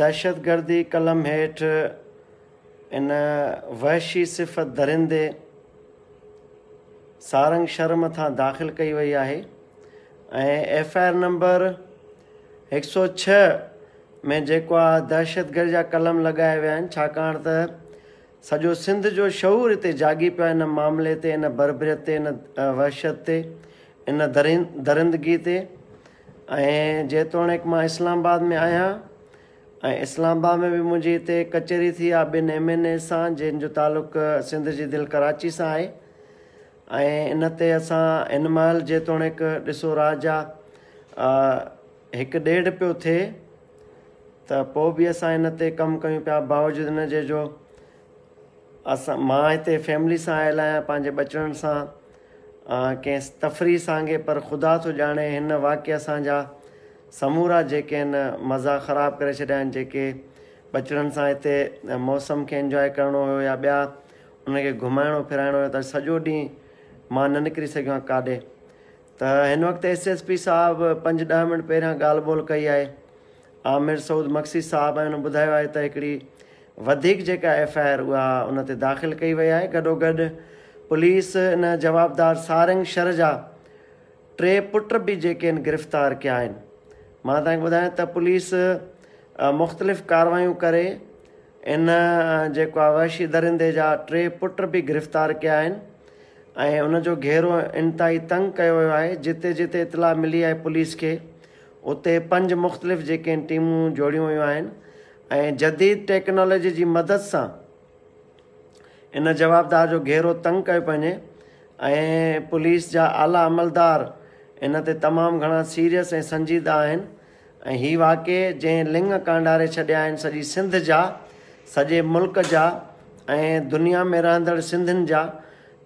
دهشتگردي قلم هيٺ ان وحشي صفت درندي سارنگ شھر مٿان داخل ڪئي وئي آهي ۽ ايف آء آر نمبر هڪ سؤ ڇهه ۾ جيڪو آ دهشتگرد جا قلم لڳايا ويا آهن ڇاڪاڻ ته سڄو سنڌ جو شعور هتي جاڳي پيو آهي ان معاملي تي ان بربريت تي ان وحشت تي ان درندگي تي ۽ جيتوڻيڪ مان اسلام آباد ۾ آهيان ۽ اسلام آباد ۾ به منهنجي هتي ڪچهري ٿي آهي ٻن ايم اين ايز سان جن جو تعلق سنڌ جي دل ڪراچي سان آهي ۽ ان تي اسان هن مهل جيتوڻيڪ ڏسو راه جا هڪ ڏيڍ پيو ٿئي ته پوء به اسان ان تي ڪم ڪيون پيا باوجود ان جي جو اسان مان هتي فيملي سان آيل آهيان پنهنجي ٻچڙن سان آهن ڪنهن تفريح سانگي پر خدا ٿو ڄاڻي هن واقعي اسان جا سمورا جيڪي هن مزا خراب ڪري ڇڏيا آهن جيڪي ٻچڙن سان هتي موسم کي انجوائي ڪرڻو هيو يا ٻيا انهن کي گهمائڻو ڦراڻو هيو ته سڄو ڏينهن مان نه نڪري سگهيو آهيان ڪاڏي ته هن وقت ايس ايس پي صاحب پنج ڏهه منٽ پهريان ڳالهه ٻولهه ڪئي آهي عامر سعود مگسي صاحب ۽ هن ٻڌايو آهي ته هڪڙي وڌيڪ جيڪا ايف آء آر اها ان تي داخل ڪئي وئي آهي گڏوگڏ پوليس ان جوابدار سارنگ شر جا ٽي پٽ به جيڪي ان گرفتار ڪيا آهن مان توهان کي ٻڌايان ته پوليس مختلف ڪاروايون ڪري ان جيڪو آهي وحشي درندي جا ٽي پٽ به گرفتار ڪيا آهن ۽ ان جو گهيرو انتهائي تنگ ڪيو ويو آهي جتي جتي اطلاع ملي آهي پوليس کي اتي پنج مختلف جيڪي ٽيمون جوڙيون ويون آهن ۽ جديد ٽيڪنالوجي جي مدد سان ان جوابدار جو گهيرو تنگ ڪيو پئي وڃي ۽ پوليس جا اعليٰ عملدار ان تي تمام گهڻا سيريس ۽ سنجيده آهن ۽ هي واقعي جنهن لنگ ڪانڊاري ڇڏيا آهن سڄي سنڌ جا سڄي ملڪ جا ۽ دنيا ۾ رهندڙ سنڌين جا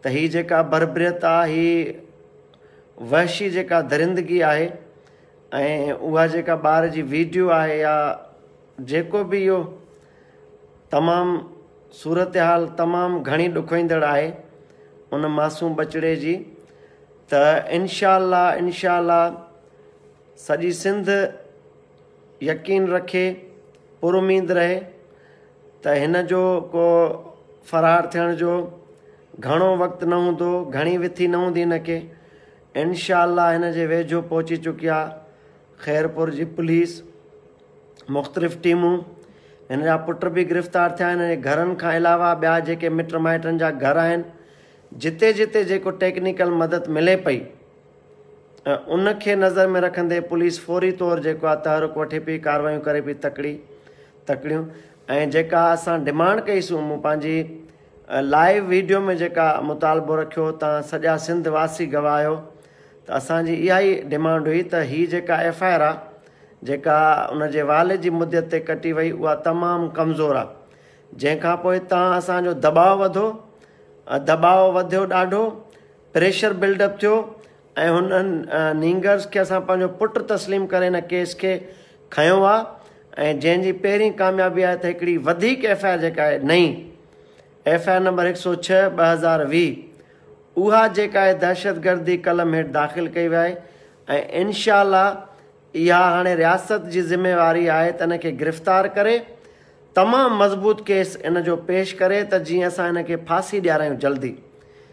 ته هي جيڪا بربريت آهي هي وحشي جيڪا درندگي آهي ۽ اها جيڪا ٻار جي ويڊيو آهي يا جيڪو به اهو تمام صورتحال تمام گهڻي ڏکوئيندڙ آهي ان معصوم ٻچڙي جي ته انشاء الله انشاء الله سڄي سنڌ يقين رکي پر اميد رهي ته هن جو ڪو فرار ٿيڻ جو گهڻو وقت نه هوندو، گهڻي وٿي نه هوندي هن کي. انشاء الله هن جي ويجهو پهچي چڪي آ خيرپور جي پوليس، مختلف ٽيمون. هن جا پٽ به گرفتار ٿيا آهن. هن جي گهرن کان علاوه ٻيا جيڪي مٽ مائٽن جا گهر آهن، جتي جتي جيڪو ٽيڪنيڪل مدد ملي پئي، ۽ ان کي نظر ۾ رکندي پوليس فوري طور جيڪو آ تحرڪ وٺي پي ڪاروايون ڪري پي تڪڙي تڪڙيون ۽ جيڪا اسان ڊمانڊ ڪئي سون مون پنهنجي لائيو ويڊيو ۾ جيڪا مطالبو رکيو تان سڄا سنڌ واسي گواهه آهيو ته اسان جي اها ئي ڊمانڊ هئي ته هي جيڪا ايف آء آر آ جيڪا ان جي والد جي مدت تي ڪٽي وئي اها تمام ڪمزور آ جنهن کان پوء تان اسان جو دٻاء وڌو دٻاء وڌيو ڏاڍو پريشر بلڊ اپ ٿيو ۽ هنن نينگرز کي اسان پنهنجو پٽ تسليم ڪري هن ڪيس کي کنيو آ ۽ جنهن جي پهرين ڪاميابي آهي ته هڪڙي وڌيڪ ايف آء آر جيڪا آهي نئين ايف آء آر نمبر هڪ سؤ ڇهه ٻه هزار ويهه اها جيڪا آهي دهشتگردي قلم هيٺ داخل ڪئي ويا آهي ۽ انشاء الله اها هاڻي رياست جي ذميواري آهي ته ان کي گرفتار ڪري تمام مضبوط ڪيس ان جو پيش ڪري ته جيئن اسان هن کي ڦاسي ڏيارايون جلدي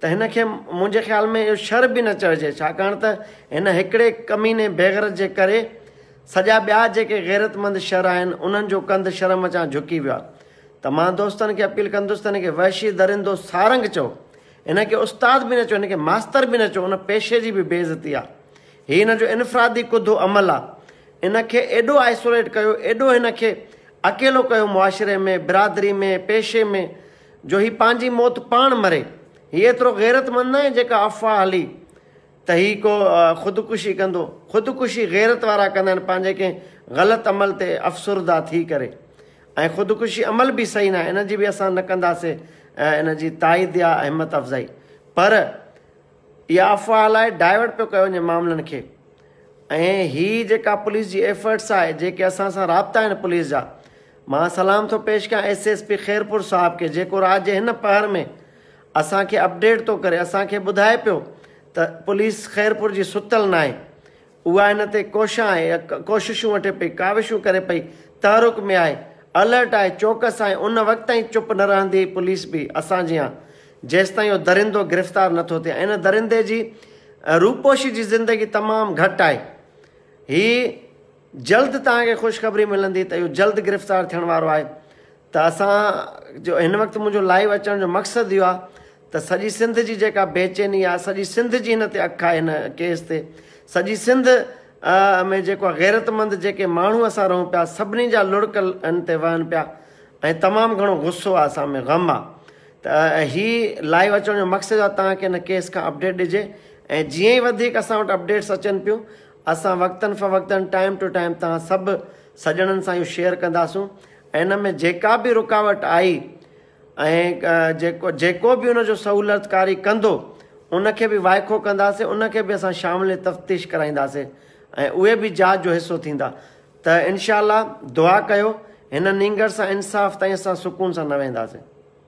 ته هن کي منهنجي خيال ۾ اهو شر به نه چئجي ڇاڪاڻ ته هن هڪڙي ڪميني بيغرض جي ڪري سڄا ٻيا جيڪي غيرتمند شر آهن انهن جو ڪنڌ شرم چان جهڪي ويو آهي ته مان دوستن کي اپيل ڪندس ته هن کي وحشي درندو سارنگ چئو هن کي استاد به نه چئو هن کي ماستر به نه چئو ان پيشي جي به بي عزتي آهي هي هن جو انفرادي ڪڌو عمل آهي ان کي ايڏو آئسوليٽ ڪيو ايڏو هن کي اڪيلو ڪيو معاشري ۾ برادري ۾ پيشي ۾ جو هي پنهنجي موت پاڻ مري. هي ايترو غيرتمند ناهي جيڪا افواهه هلي ته هي ڪو خودڪشي ڪندو. خودڪشي غيرت وارا ڪندا آهن پنهنجي ڪنهن غلط عمل تي افسرده ٿي ڪري. ۽ خودڪشي عمل به صحيح ناهي ان جي به اسان نه ڪنداسين ان جي تائيد يا همت افزائي. پر. اها افواهه لاء ڊائيورٽ پيو ڪيو وڃي معاملن کي ۽ هي جيڪا پوليس جي ايفرٽس آهي جيڪي اسان سان رابطا آهن پوليس جا مان سلام ٿو پيش ڪيان ايس ايس پي خيرپور صاحب کي جيڪو رات جي هن پهر ۾ اسان کي اپڊيٽ ٿو ڪري اسان کي ٻڌائي پيو ته پوليس خيرپور جي ستل ناهي اها ان تي ڪوشان آهي، ڪوششون وٺي پئي، ڪاوشون ڪري پئي، تحرڪ ۾ آهي، الرٽ آهي، چوڪس آهي، ان وقت تائين چپ نه رهندي پوليس به اسان جيان، جيستائين اهو درندو گرفتار نٿو ٿئي ۽ ان درندي جي روپوشي جي زندگي تمام گهٽ آهي. هي جلد توهان کي خوشخبري ملندي ته اهو جلد گرفتار ٿيڻ وارو آهي. ته اسان جو هن وقت منهنجو لائيو اچڻ جو مقصد اهو آهي ته سڄي سنڌ جي جيڪا بيچيني آهي سڄي سنڌ جي هن تي اک آهي هن ڪيس تي سڄي سنڌ ۾ جيڪو غيرت مند جيڪي ماڻهو اسان رهون پيا سڀني جا لڙڪ ان تي وهن پيا ۽ تمام گهڻو غصو آهي اسان ۾ غم آهي ته هي لائيو اچڻ جو مقصد آهي تان کي هن ڪيس کان اپڊيٽ ڏجي ۽ جيئن ئي وڌيڪ اسان وٽ اپڊيٽس اچن پيون اسان وقتن فوقتن ٽائم ٽو ٽائم تان سڀ سڄڻن سان اهو شيئر ڪنداسون ان ۾ جيڪا به رڪاوٽ آئي ۽ جيڪو جيڪو به ان جو سهولتڪاري ڪندو ان کي به وائکو ڪنداسين ان کي به اسان شامل تفتيش ڪرائينداسين ۽ اهي به جاچ جو حصو ٿيندا ته انشاء الله دعا ڪيو هن نينگر سان انصاف تائين اسان سڪون سان نه ويهنداسين.